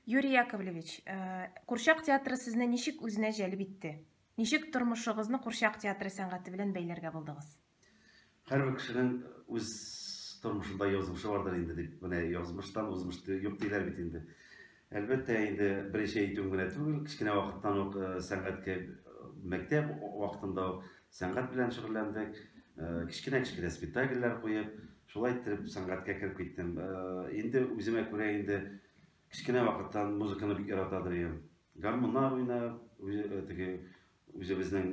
Юрий Яковлевич, э, Курчак театры сезне ничек үзенә җәлеп итте? Ничек тормышыгызны Курчак театры сәнгате белән бәйләргә булдыгыз? Һәрбер кешенең үз тормышында язмышы бардыр инде дип, менә язмыштан узмыш юк диләр бит инде. Әлбәттә, инде беренче әйтүем генә түгел, кечкенә вакыттан ук э, сәнгатькә э, мәктәп вакытында ук Сәнгать белән шөгыльләндек, кечкенә-кечкенә спектакльләр куеп, шулай иттереп сәнгатькә кереп киттем. Инде үземә күрә инде кечкенә вакыттан музыканы бик яратадыр идем. Гармуннар уйнап, теге үзебезнең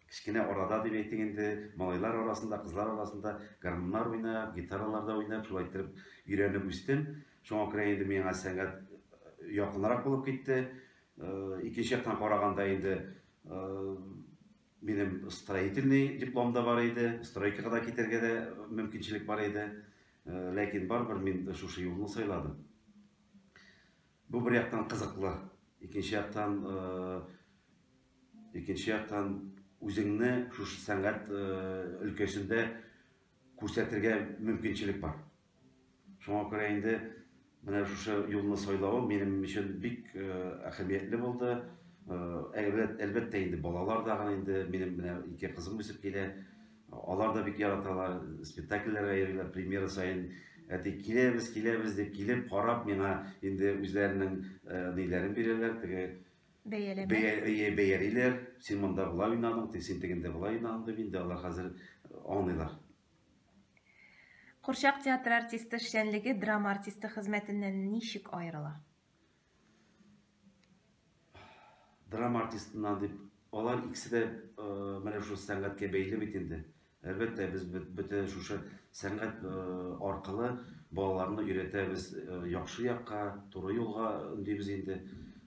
кечкенә арада дип әйтик инде, малайлар арасында, кызлар арасында гармуннар уйнап, гитараларда уйнап, шулай иттереп өйрәнеп үстем. Шуңа күрә инде миңа сәнгать якынрак булып китте. Икенче яктан караганда инде Минем строительный диплом да бар иде, стройкага да китәргә дә мөмкинчелек бар иде. Э, ләкин барыбер мин шушы юлны сайладым. Бу бер яктан кызыклы, икенче яктан э, икенче яктан үзеңне шушы сәнгать э, өлкәсендә күрсәтергә мөмкинчелек бар. Шуңа күрә инде менә шушы юлны сайлавым минем өчен бик әһәмиятле булды. Әлбәттә инде балалар да гына инде минем менә ике кызым үсеп килә. Алар да бик яраталар, спектакльләргә йөриләр, премьера саен әти киләбез, киләбез дип килеп карап миңа инде үзләренең ниләрен бирәләр, теге бәяләмә. Бәялиләр, син монда болай уйнадың, син тегендә болай уйнадың дип инде алар хәзер аңлыйлар. Курчак театры артисты эшчәнлеге драма артисты хезмәтеннән ничек аерыла? Драма артистыннан дип, алар икесе дә менә шул сәнгатькә бәйле бит инде. Әлбәттә, без бөтә шушы сәнгать аркылы балаларны өйрәтәбез яхшы якка, туры юлга өндибез инде.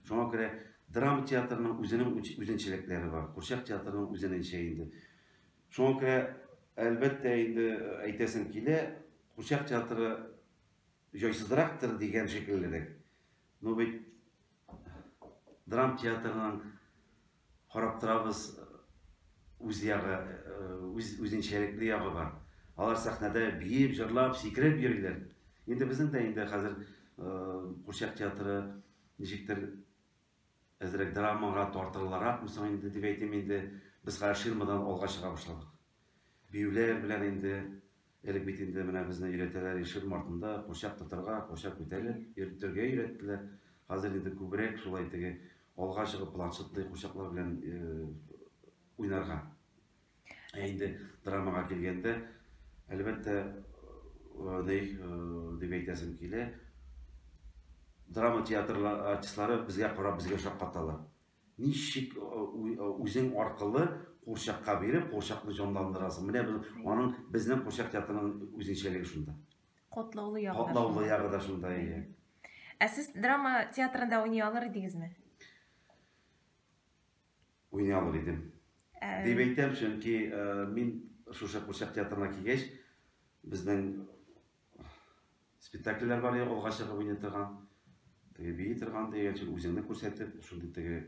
Шуңа күрә драма театрының үзенең үзенчәлекләре бар. Курчак театрының үзенеңчә инде. Шуңа күрә, әлбәттә инде, әйтәсем килә, Курчак театры җайсызрактыр дигән шикеллерәк. Ну бит драмтеатрның карап торабыз, үз ягы, үз үзенчәлекле ягы бар. Алар сәхнәдә биеп, җырлап, сикереп йөриләр. Инде безнең дә инде хәзер Курчак театры ничектер Әзрәк драмага тартылырак мсың инде дип әйтим инде, без хәзер ширмадан алга чыга башладык. Биюләр белән инде, элек бит инде менә безне өйрәтәләр ширма артында курчак тотарга, курчак күтәреп, йөртергә өйрәттеләр. Хәзер инде күбрәк шулай теге алга чыгып планшетлы курчаклар белән уйнарга Ә инде драмага килгәндә, әлбәттә, ни дип әйтәсем килә, драма театры артистлары безгә карап, безгә шаккаталар. Ничек үзең аркылы курчакка биреп, курчакны җанландырасың? Менә аның безнең курчак театрының үзенчәлеге шунда. Котлаулы ягы да шунда. Котлаулы ягы да шунда, иә. Ә сез драма театрында уйный алыр идегезме? Уйный алыр идем. Ә... Дип әйтәм, чөнки ә, мин шушы Курчак театрына килгәч, безнең спектакльләр бар иде, алга чыгып уйный торган, теге бии торган дигән, чөнки үзеңне күрсәтеп, шундый теге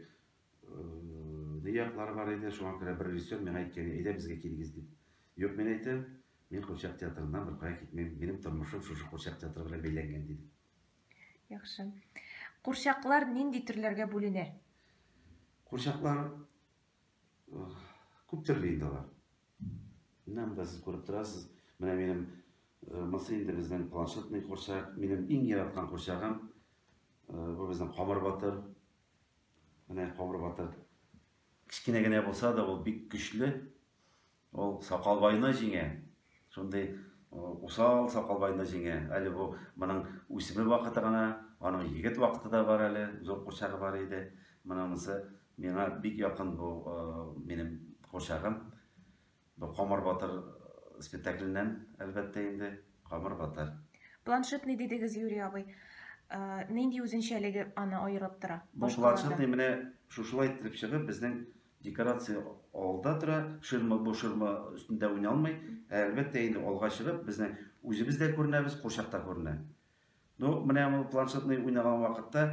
ни яклары бар иде, шуңа күрә бер режиссер миңа әйткән, әйдә безгә килегез дип. Юк, мин әйтәм, мин Курчак театрыннан беркая китмим, минем тормышым шушы Курчак театры белән бәйләнгән диде. Яхшы. Курчаклар нинди төрләргә бүленә? Курчаклар күп төрле инде алар. Менә монда сез күреп торасыз. Менә минем мысы инде безнең планшетный курчак. Минем иң яраткан курчагым. Бу безнең камыр батыр. Менә камыр батыр. Кечкенә генә булса да, ул бик көчле. Ул Сакалбайны җиңә. Шундый усал Сакалбайны җиңә. Әле бу моның үсми вакыты гына, аның егет вакыты да бар әле, зур курчагы бар иде. Монысы миңа бик якын бу минем курчагым. Бу Камыр батыр спектакленнән, әлбәттә инде, Камыр батыр. Планшет ни дидегез, Юрий абый? Нинди үзенчәлеге аны аерып тора? Бу планшет менә шушылай итеп чыгып, безнең Декорация алда тора, ширма бу ширма өстендә уйный алмый. Ә әлбәттә инде алга чыгып, безнең үзебез дә күренәбез, курчак та күренә. Ну, менә бу планшетный уйнаган вакытта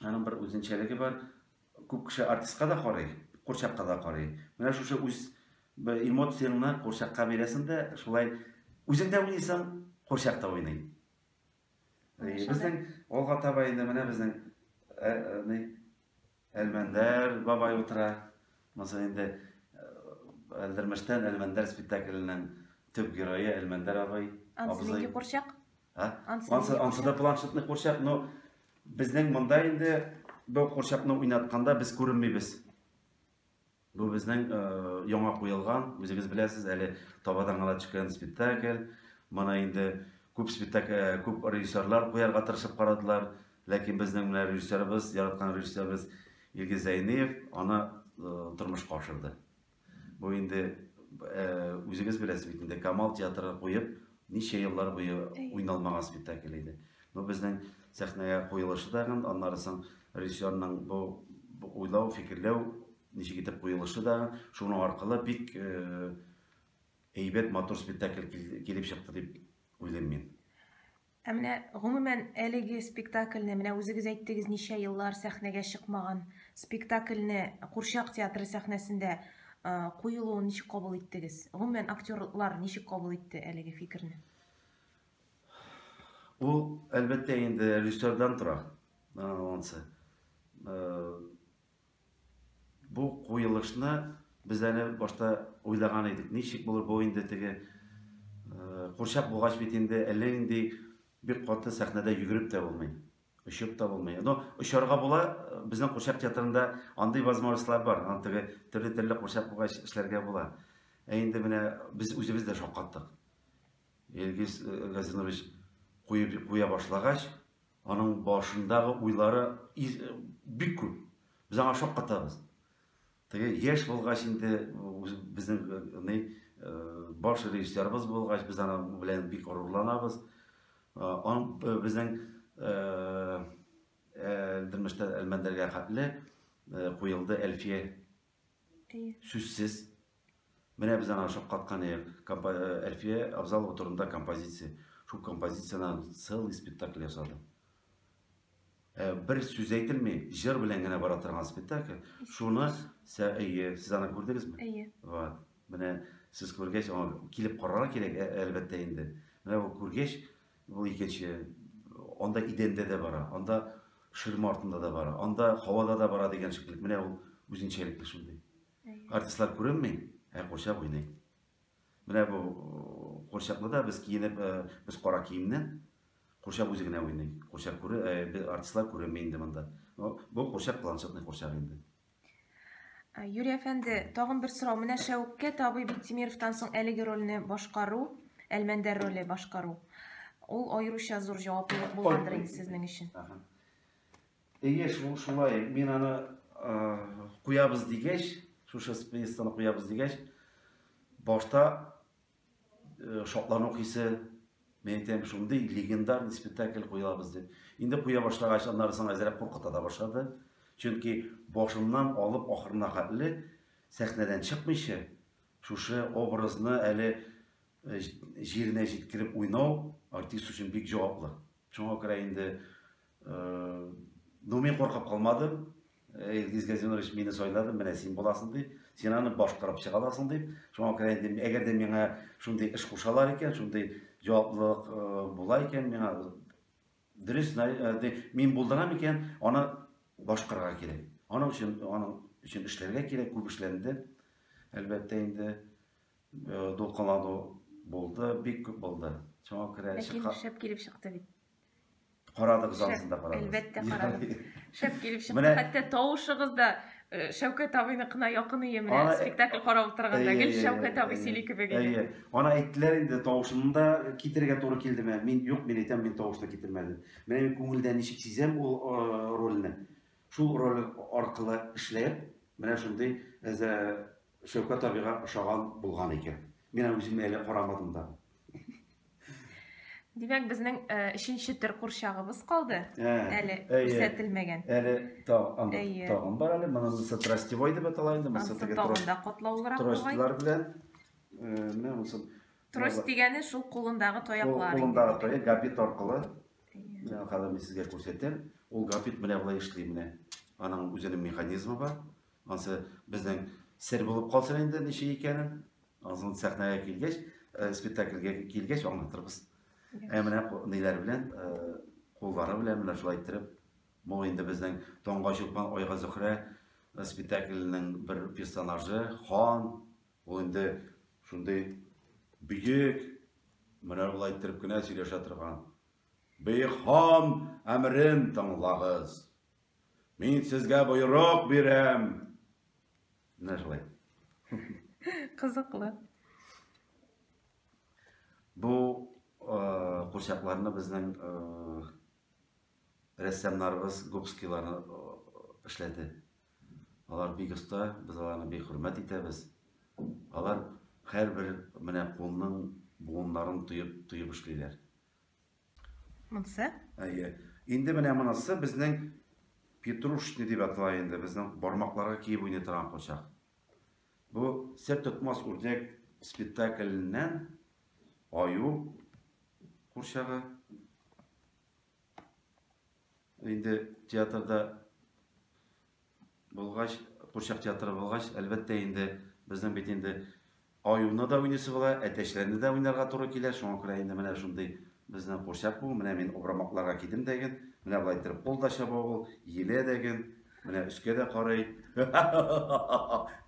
аның бер үзенчәлеге бар. Күп кеше артистка да карый, курчакка да карый. Менә шушы үз эмоцияңне курчакка бирәсең дә, шулай үзең дә уйныйсың, курчак та уйный. Безнең алга таба инде менә безнең Әлмәндәр бабай утыра. Монысы инде Әлдермештән Әлмәндәр спектакленең төп герое Әлмәндәр абый. Ансы курчак? Ансы да планшетный курчак, но безнең монда инде бу курчакны уйнатканда без күренмибез. Бу безнең яңа куелган, үзегез беләсез, әле табадан гына төшкән спектакль. Моны инде күп спектакль, күп режиссерлар куярга тырышып карадылар, ләкин безнең менә режиссерыбыз, яраткан режиссерыбыз Илгиз Зәйниев аны тормышка ашырды. Бу инде үзегез беләсез бит инде Камал театры куеп, ничә еллар буе уйналмаган спектакль иде. Бу безнең сәхнәгә куелышы да гын, аннары соң режиссерның бу уйлау, фикерләү, ничек итеп куелышы да гын, шуның аркылы бик э, әйбәт, матур спектакль килеп чыкты дип уйлыйм мин. Ә менә гомумән әлеге спектакльне, менә үзегез әйттегез, ничә еллар сәхнәгә чыкмаган спектакльне Курчак театры сәхнәсендә куелуын ничек кабул иттегез? Гомумән актерлар ничек кабул итте әлеге фикерне? Ул, әлбәттә, инде режиссердан тора. Ансы. Бу куелышны без әле башта уйлаган идек. Ничек булыр бу инде теге курчак булгач бит инде әллә нинди бик каты сәхнәдә йөгереп тә булмый. Очып та булмый. Но очарга була, безнең курчак театрында андый возможностьлар бар. Аны теге төрле-төрле курчак булгач эшләргә була. Ә инде менә без үзебез дә шаккаттык. Илгиз Газизович куеп куя башлагач, аның башындагы уйлары бик күп. Без аңа шаккатабыз. Теге яшь булгач инде безнең ни баш режиссерыбыз булгач, без аны белән бик горурланабыз. Он безнең Әлдермештә Әлмәндәргә хәтле куелды Әлфия Әйе. Сүзсез. Менә без аңа шаккаткан идек. Компо- э, Әлфия Абзалова турында композиция. Шул композициянан целый спектакль ясады. Ә, бер сүз әйтелми, җыр белән генә бара торган спектакль. Шуны сә әйе, сез аны күрдегезме? Әйе. Вот. Менә сез күргәч, аңа килеп карарга кирәк, ә- әлбәттә инде. Менә бу күргәч, Бу икенче, анда идәндә дә бара, анда ширма артында да бара, анда һавада да бара дигән шикелле. Менә ул үзенчәлекле шундый. Артистлар күренми, ә курчак уйный. Менә бу курчакны да без киенеп, без кара киемнән курчак үзе генә уйный. Курчак күрә, артистлар күренми инде монда. Бу курчак планшетный курчак инде. Э, Юрий әфәнде, тагын бер сорау. Менә Шәүккә табый Биктимировтан соң әлеге рольне башкару, Әлмәндәр роле башкару. Ул аеруча зур җаваплылык булгандыр инде сезнең өчен. Әйе, шул шулай. Мин аны куябыз дигәч, шушы спецны куябыз дигәч, башта Э, шатлану хисе мен әйтәм шундый легендарный спектакль куябыз дип инде куя башлагач аннары соң әзрәк куркыта да башлады чөнки башыннан алып ахырына хәтле сәхнәдән чыкмыйча шушы образны әле э, җиренә җиткереп уйнау артист өчен бик җаваплы шуңа күрә инде Ну, мин куркып калмадым. Илгиз Газинович мине сайлады, менә син буласың дип, син аны башкарып чыга аласың дип. Шуңа күрә инде, әгәр дә миңа шундый эш кушалар икән, шундый җаваплылык була икән, миңа дөрес мин булдырам икән, аны башкарырга кирәк. Аның өчен, аның өчен эшләргә кирәк, күп эшләнде. Әлбәттә инде дулкынлану булды, бик күп булды. Шуңа күрә чыга. Шәп килеп чыкты бит. Карадыгыз, ансын да карадыгыз. Әлбәттә карадым. Шәп килеп чыкты. Хәтта тавышыгыз да э, Шәүкәт абыйныкына якын ие менә спектакль карап утырганда гел Шәүкәт абый сөйли кебек иде. Әйе. Ана әйттеләр инде тавышын да китерергә туры килде менә. Мин юк, мин әйтәм, мин тавышны китермәдем. Менә мин күңелдә ничек сизәм ул э, рольне. Шул роль аркылы эшләп, менә шундый әзә Шәүкәт абыйга ошаган булган икән. Мин аны үземә әле карамадым да. Димәк, безнең э, өченче төр курчагыбыз калды. Ә, Әле әйе. күрсәтелмәгән. Әле тау, анда Әйе. тагын бар әле. Моны мысы трастевой дип атала инде. Мысы Ансы теге тагын трос- да котлаулырак бугай. тростилар белән. Э, Менә мысы. Трос дигәне шул кулындагы Ул таяклар. Кулындагы тоя габит аркылы. Менә Хәзер мин сезгә күрсәтәм. Ул габит менә болай эшли менә. Аның үзенең механизмы бар. Ансы безнең сер булып калсын инде ничек икәнен. Ансын сәхнәгә килгәч, э, спектакльгә килгәч аңлатырбыз. Ә менә ниләр белән, э, куллары белән менә шулай иттереп, бу инде безнең Таңга чукман айга Зөхрә э, спектакльнең бер персонажы, хан. Ул инде шундый бөек, менә шулай иттереп кенә сөйләшә торган. Бөек хан әмерен тыңлагыз. Мин сезгә боерык бирәм. Менә шулай. Кызыклы. Бу курчакларны безнең рәссамнарыбыз Губскийларны эшләде. Алар бик оста, без аларны бик хөрмәт итәбез. Алар һәрбер менә кулның буыннарын тоеп, тоеп эшлиләр. Монсы? Әйе. Инде менә монысы безнең петрушный дип атала инде, безнең бармакларга киеп уйный торган кочак. Бу сер тотмас үрдәк спектакльннән аю курчагы. Инде театрда Булгач, курчак театры булгач, әлбәттә инде, безнең бит инде аюны да уйныйсы була, әтәчләрне дә уйнарга туры килә, шуңа күрә инде менә шундый безнең курчак бу, менә мин обрамакларга кидем дәген, менә болай иттереп кул да чаба ул, елә дәген, менә өскә дә карый,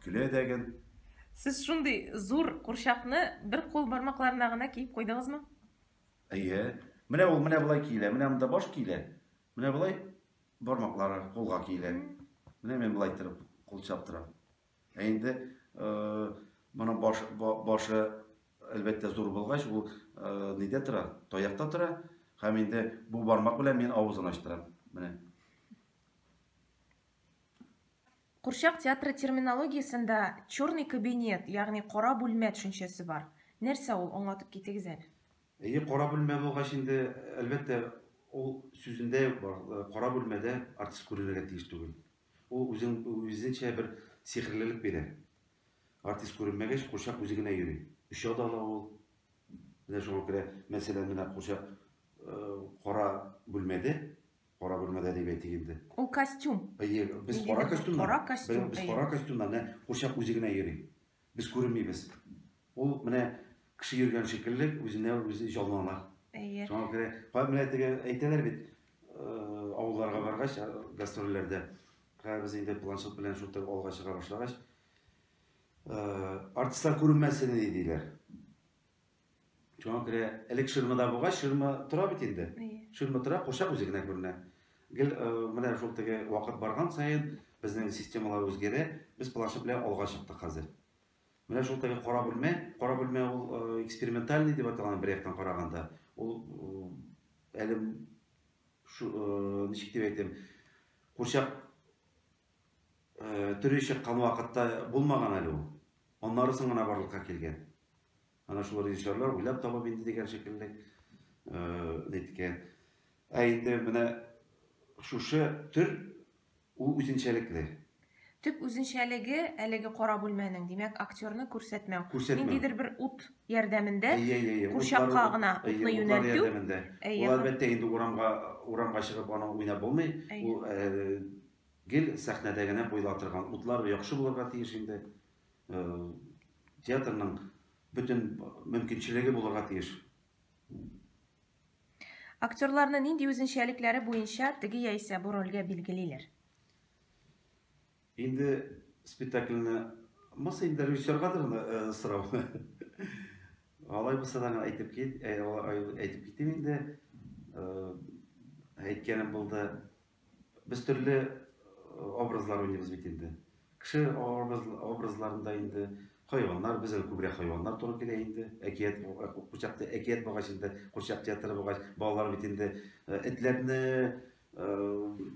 көлә дәген. Сез шундый зур курчакны бер кул бармакларына гына киеп куйдыгызмы? Әйе. Менә ул менә болай киелә, менә монда баш киелә, менә болай Бармаклары кулга киелә. Менә мин болай иттереп кул чаптырам. Ә инде моның баш, башы әлбәттә зур булгач, ул нидә тора? Таякта тора. Һәм инде бу бармак белән мин авызын ачтырам. Менә. Курчак театры терминологиясендә черный кабинет, ягъни кара бүлмә төшенчәсе бар. Нәрсә ул, аңлатып китегез әле. Әйе, кара бүлмә булгач инде, әлбәттә, ул сүзендә үк бар, кара бүлмәдә артист күренергә тиеш түгел. Ул үзен, үзенчә бер сихерлелек бирә. Артист күренмәгәч, курчак үзе генә йөри. Оча да ала ул. Менә шуңа күрә, мәсәлән, менә курчак кара бүлмәдә, кара бүлмәдә дип әйтик инде. Ул костюм. Әйе, без кара костюмнар. Кара костюм. Без кара костюмнар, менә курчак үзе генә йөри. Без күренмибез. Ул менә кеше йөргән шикелле үзенә үзе җанлана. Әйе. Шуңа күрә кай менә теге әйтәләр бит, авылларга баргач, гастрольләрдә. Хәзер без инде планшет белән шул төр алга чыга башлагач, артистлар күренмәсен диләр. Шуңа күрә элек ширмада булгач, ширма тора бит инде. Ширма тора, курчак үзе генә күренә. Гел э, менә шул теге вакыт барган саен безнең системалар үзгәрә, без планшет белән алга чыктык хәзер. Менә шул теге кара бүлмә, кара бүлмә ул э, экспериментальный дип аталган бер яктан караганда, ул э, әле шу, ничек дип әйтәм, курчак Төри чыккан вакытта булмаган әле ул. Аннары соң гына барлыкка килгән. Ана шул режиссерлар уйлап табып инде дигән шикелле әйткән. Ә инде менә шушы төр ул үзенчәлекле. Төп үзенчәлеге әлеге кара бүлмәнең, димәк, актерны күрсәтмәү. Күрсәтмәү. Ниндидер бер ут ярдәмендә курчакка гына утны юнәлтү. Ул әлбәттә инде урамга, урамга чыгып аның уйнап булмый. Ул Гел сәхнәдә генә куела торган утлар яхшы булырга тиеш инде. Театрның бөтен мөмкинчелеге булырга тиеш. Актерларны нинди үзенчәлекләре буенча теге яисә бу рольгә билгелиләр? Инде спектакльне Маса инде режиссерга да гына э, сорау. Алай булса да әйтеп кит, э, әйтеп китим инде. Э, әйткәнем булды, Без төрле образлар уйныйбыз бит инде. Кеше образларында инде хайваннар, безгә күбрәк хайваннар туры килә инде. Әкият курчакта әкият булгач инде, курчак театры булгач, балалар бит инде э, этләрне, э,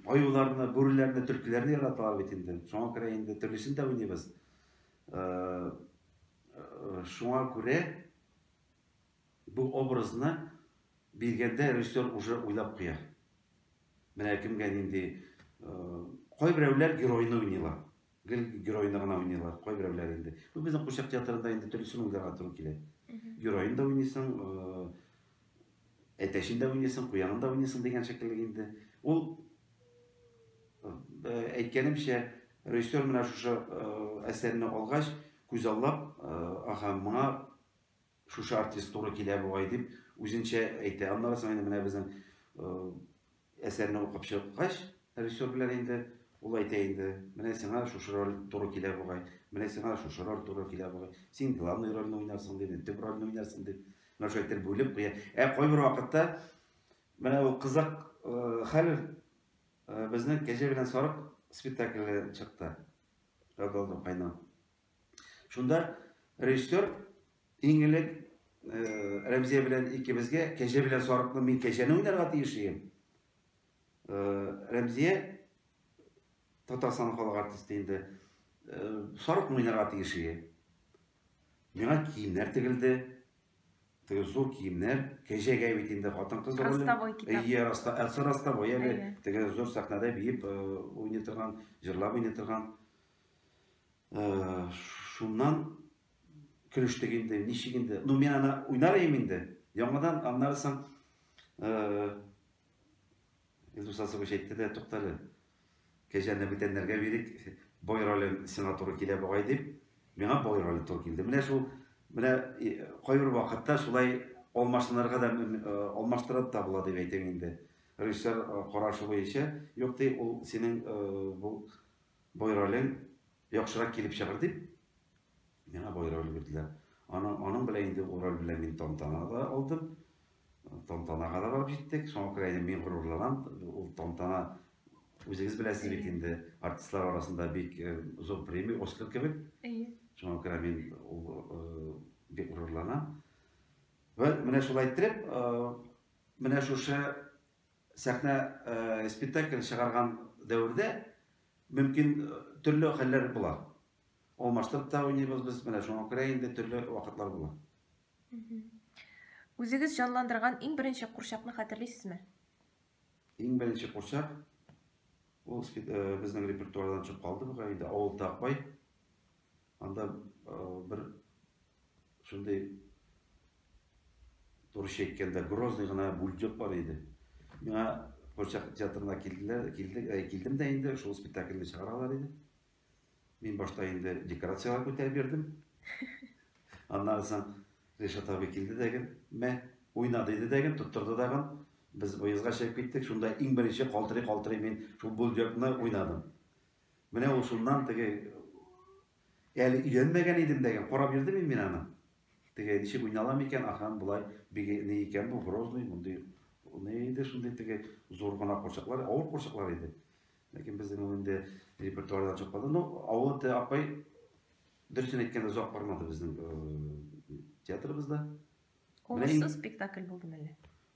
аюларны, бүреләрне, төлкеләрне яраталар бит инде. Шуңа күрә инде төрлесен дә уйныйбыз. Э, шуңа күрә Бу образны биргәндә режиссер уже уйлап куя. Менә кемгә нинди Кайберәүләр геройны уйныйлар. Гел геройны гына уйныйлар, кайберәүләр инде. Бу безнең Курчак театрында инде төрлесен уйларга туры килә. Геройны да уйныйсың, әтәчен дә уйныйсың, куянын да уйныйсың дигән шикелле инде. Ул әйткәнемчә, режиссер менә шушы әсәрне алгач, күзаллап, ага, моңа Шушы артист туры килә бугай дип үзенчә әйтә. Аннары соң инде менә безнең әсәрне укып чыккач, режиссер белән инде ул әйтә инде, менә сиңа шушы роль туры килә бугай, менә сиңа шушы роль туры килә бугай, син главный рольне уйнарсың дип, төп рольне уйнарсың дип, менә шулай итеп бүлеп куя. Ә кайбер вакытта менә ул кызык хәл безнең кәҗә белән сарык спектакле чыкты. Радалдым кайнам. Шунда режиссер иң элек э, Рәмзия белән икебезгә кәҗә белән сарыкны мин кәҗәне уйнарга тиеш идем. Э, Рәмзия Татарстан халык артисты инде э, сарык уйнарга тиеш иде. Миңа киемнәр тегелде. Теге зур киемнәр, кәҗәгә бит инде хатын-кыз роле. Ростовой китап. Әйе, раста, әсә ростовой әле. Теге зур сәхнәдә биеп уйный торган, җырлап уйный торган. Э, шуннан көлештек инде, ничек инде. Ну, мин аны уйнар идем инде. Яңадан аннары соң э, Илдус Асович әйтте дә, туктале. Кәҗәне бүтәннәргә бирик, бой роле сиңа туры килә бугай дип, миңа бой роле туры килде. Менә шул менә кайбер вакытта шулай алмаштырырга да алмаштырып та була дип әйтәм инде. Режиссер карашы буенча, юк ди, ул синең бу Бай ролен яхшырак килеп чыгыр дип, миңа бай роль бирделәр. Аны, аның белән инде ул роль белән мин тантана да алдым. Тантанага да барып җиттек. Шуңа күрә инде мин горурланам. Ул тантана үзегез беләсез бит инде артистлар арасында бик э, зур премия, Оскар кебек. Әйе. Шуңа күрә мин ул э, бик горурланам. Вә менә шулай иттереп, э, менә шушы Сәхнә спектакль чыгарган дәвердә мөмкин төрле хәлләр була. Алмаштырып та уйныйбыз без, менә шуңа күрә инде төрле вакытлар була. Үзегез җанландырган иң беренче курчакны хәтерлисезме? Иң беренче курчак ул э, безнең репертуардан чыгып калды бугай инде авыл такбай Анда бер шундый турыч әйткәндә грозный гына бульдеп бар иде. Миңа Курчак театрына килделәр, килдек, ә килдем дә инде шул спектакльне чыгаралар иде. Мин башта инде декорацияләр күтәреп бирдем. Аннан соң Ришат абый килде дәген, мә, уйна диде дәген, тоттырды дагын. Без выездга чыгып киттек, шунда иң беренче калтырый-калтырый мин шул бульдепны уйнадым. Менә ул шуннан теге әле өйләнмәгән идем дәгән, карап йөрдем мин мин аны. Теге ничек уйна алам икән, ахран болай бик ни икән бу грозный, мондый ни иде шундый теге зур гына курчаклар, авыр курчаклар иде. Ләкин безнең ул инде репертуардан чыкмады. Ну, авыл те апай дөресен әйткәндә озак бармады безнең театрыбызда. Уңышсыз спектакль булдымы әллә?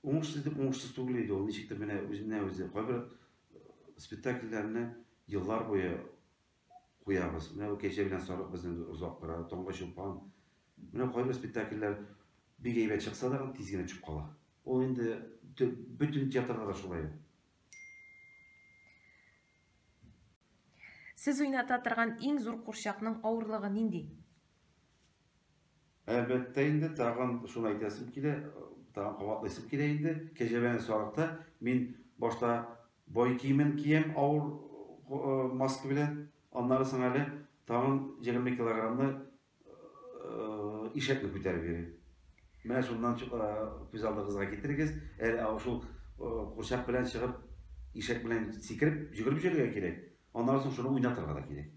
Уңышсыз дип уңышсыз түгел иде ул. Ничектер менә үзенә үзе кайбер э, спектакльләрне еллар буе куябыз. Менә бу кәҗә белән сарык безне озак тора, таңга чулпан. Менә кайбер спектакльләр бик әйбәт чыкса да тиз генә төшеп кала. Ул инде бөтен театрда да шулай. Сез уйната торган иң зур курчакның авырлыгы нинди? Әлбәттә инде, тагын шуны әйтәсем килә, тагын кабатлыйсым килә инде, кәҗәбәне сарыкта мин башта бай киемен киям авыр маска белән, аннары соң әле тагын 20 килограммны ишәкне күтәреп йөрим. Менә шуннан күз алдыгызга китерегез, әле шул курчак белән чыгып, ишәк белән сикереп, җөгереп йөрергә кирәк, аннары соң шуны уйнатырга да кирәк.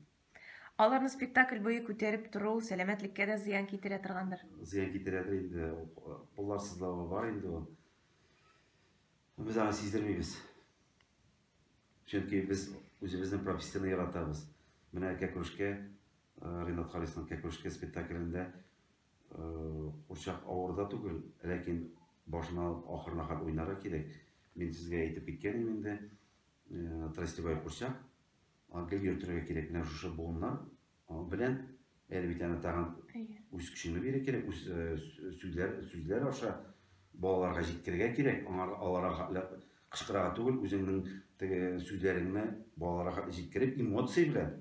Аларны спектакль буе күтәреп тору сәламәтлеккә дә зыян китерә торгандыр. Зыян китерәдер инде, куллар сызлавы бар инде ул. Без аны сиздермибез. Чөнки без үзебезнең профессияне яратабыз. Менә Кәкүшкә, э, Ринат Харисның Кәкүшкә спектаклендә э, курчак авыр да түгел, ләкин башына алып ахырына кадәр уйнарга кирәк. Мин сезгә әйтеп киткән идем инде, э, Тростевай курчак, Гел йөртергә кирәк менә шушы буыннар белән. Әле бит аны тагын үз көчеңне бирә кирәк, үз сүзләр, сүзләр аша балаларга җиткергә кирәк. Аңар аларга кычкырага түгел, үзеңнең теге сүзләреңне балаларга җиткереп, эмоция белән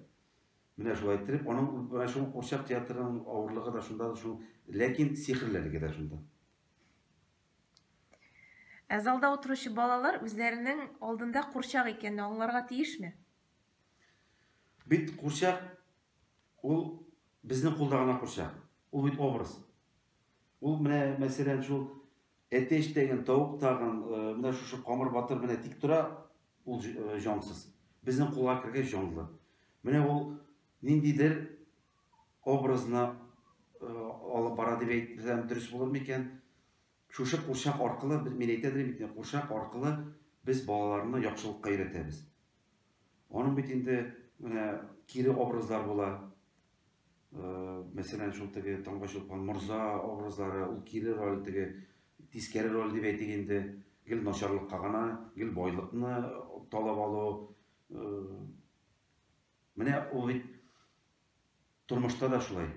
менә шулай иттереп, аның менә шул курчак театрының авырлыгы да шунда, шул, ләкин сихерлелеге дә шунда. Ә залда утыручы балалар үзләренең алдында курчак икәнне аңларга тиешме? Бит курчак ул безнең кулда гына курчак. Ул бит образ. Ул менә мәсәлән шул әтәч тәген, тавык тагын, э, менә шушы камыр батыр менә тик тора, ул э, җансыз. Безнең кулга кергәч җанлы. Менә ул ниндидер образына алып бара дип әйтсәм дөрес булыр микән? Шушы курчак аркылы, мин әйтә дим бит, курчак аркылы без балаларны яхшылыкка өйрәтәбез. Аның бит инде менә кире образлар була. Э, мәсәлән, шул теге Таңга чулпан морза образлары, ул кире роль теге тискәре роль дип әйтик инде, гел начарлыкка гына, гел байлыкны талап алу, э, Менә ул бит тормышта да шулай.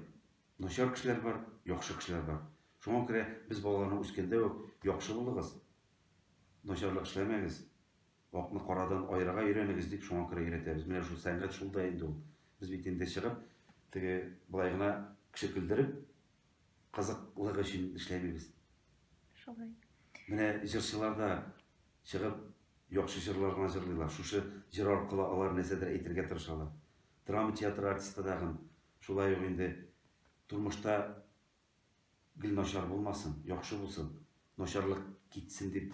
Начар кешеләр бар, яхшы кешеләр бар. Шуңа күрә без балаларны үскәндә үк яхшы булыгыз, начарлык эшләмәгез, акны карадан аерырга өйрәнегез дип шуңа күрә өйрәтәбез. Менә шул сәнгать шул да инде ул. Без бит инде чыгып, теге былай гына кеше көлдереп, кызыклык өчен эшләмибез. Шулай. Менә җырчылар да чыгып яхшы җырлар гына җырлыйлар. Шушы җыр аркылы алар нәрсәдер әйтергә тырышалар. Драма театры артисты тагын шулай ук инде тормышта гел начар булмасын, яхшы булсын, начарлык китсен дип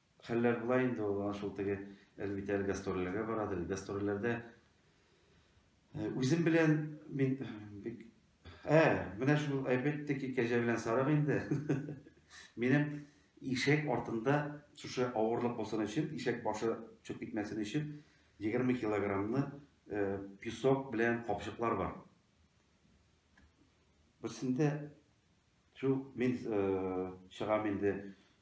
Хәлләр болай инде ул, ана шул теге Әлмит әле гастрольләргә барадыр. Гастрольләрдә үзем белән мин бик Ә, менә шул әйбәттә ки, кәҗә белән сарык инде. Минем ишәк артында шушы авырлык булсын өчен, ишәк башы чүп китмәсен өчен 20 килограммны песок белән капчыклар бар. Берсендә Шул мин чыгам инде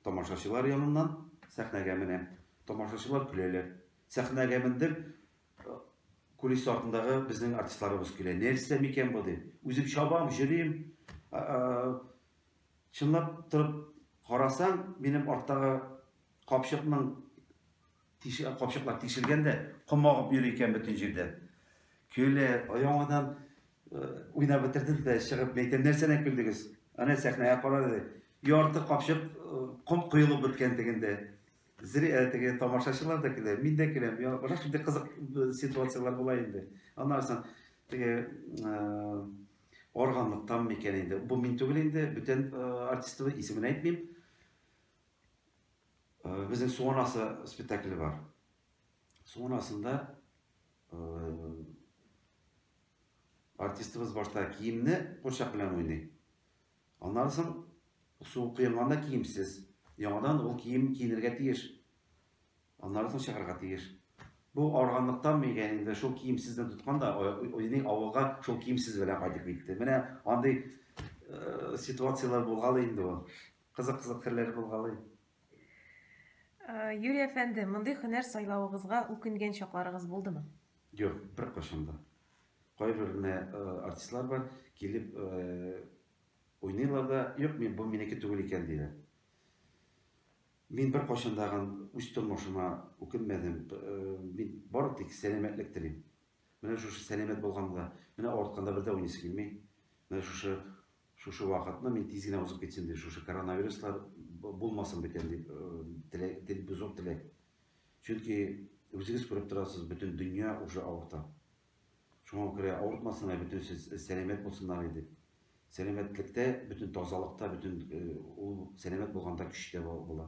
тамашачылар яныннан, сәхнәгә менәм. Тамашачылар көләләр. Сәхнәгә мендем, кулис артындагы безнең артистларыбыз көлә. Нәрсә микән бу дим. Үзем чабам, җөрим. Чынлап торып карасаң, минем арттагы капчыкның Тишек капчыклар тишелгән дә, ком агып йөри икән бөтен җирдән. Көлә, яңадан э, уйнап бетердем дә чыгып, әйтәм, нәрсәдән көлдегез? Ана сәхнәгә карады. Ярты капчык э, ком коелып беткән тегендә. Зря э, теге тамашачылар да көлә, мин дә көләм. Я, башка шундый кызык ситуацияләр була инде. Аннан соң теге органлыктан микән инде. Бу мин түгел инде, бүтән артистыбыз исемен әйтмим. Безнең Су анасы спектакле бар. Су анасында артистыбыз башта киемне курчак белән уйный. Аннан соң су коенганда киемсез. Яңадан ул кием киенергә тиеш. Аннан соң чыгарга тиеш. Бу арганлыктан мигә инде шул киемсездән тоткан да уйный авылга шул киемсез белән кайтып китте. Менә андый ситуацияләр булган инде ул. Кызык кызык хәлләр булгалый. Юрий әфәнде, мондый хөнәр сайлавыгызга үкенгән чакларыгыз булдымы? Юк, беркайчан да. Кайбер генә артистлар бар, килеп уйныйлар да, юк, мин бу минеке түгел икән диләр. Мин беркайчан да үз тормышыма үкенмәдем. Мин бары тик сәламәтлек телим. Менә шушы сәламәт булганда, менә авыртканда бер дә уйныйсы килми. Менә шушы Шушы вакытны мин тиз генә узып китсен дип, шушы коронавируслар булмасын бөтен дип, теләк, зур теләк. Чөнки үзегез күреп торасыз, бөтен дөнья уже авырта. Шуңа күрә авыртмасыннар, бөтенесе сәламәт булсыннар иде. Сәламәтлектә, бөтен тазалыкта, бөтен ул сәламәт булганда көч тә була.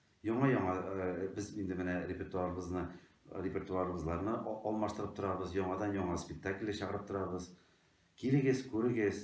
Яңа-яңа без инде менә репертуарыбызны, репертуарыбызларны алмаштырып торабыз, яңадан яңа спектакльләр чыгарып торабыз. Килегез, күрегез.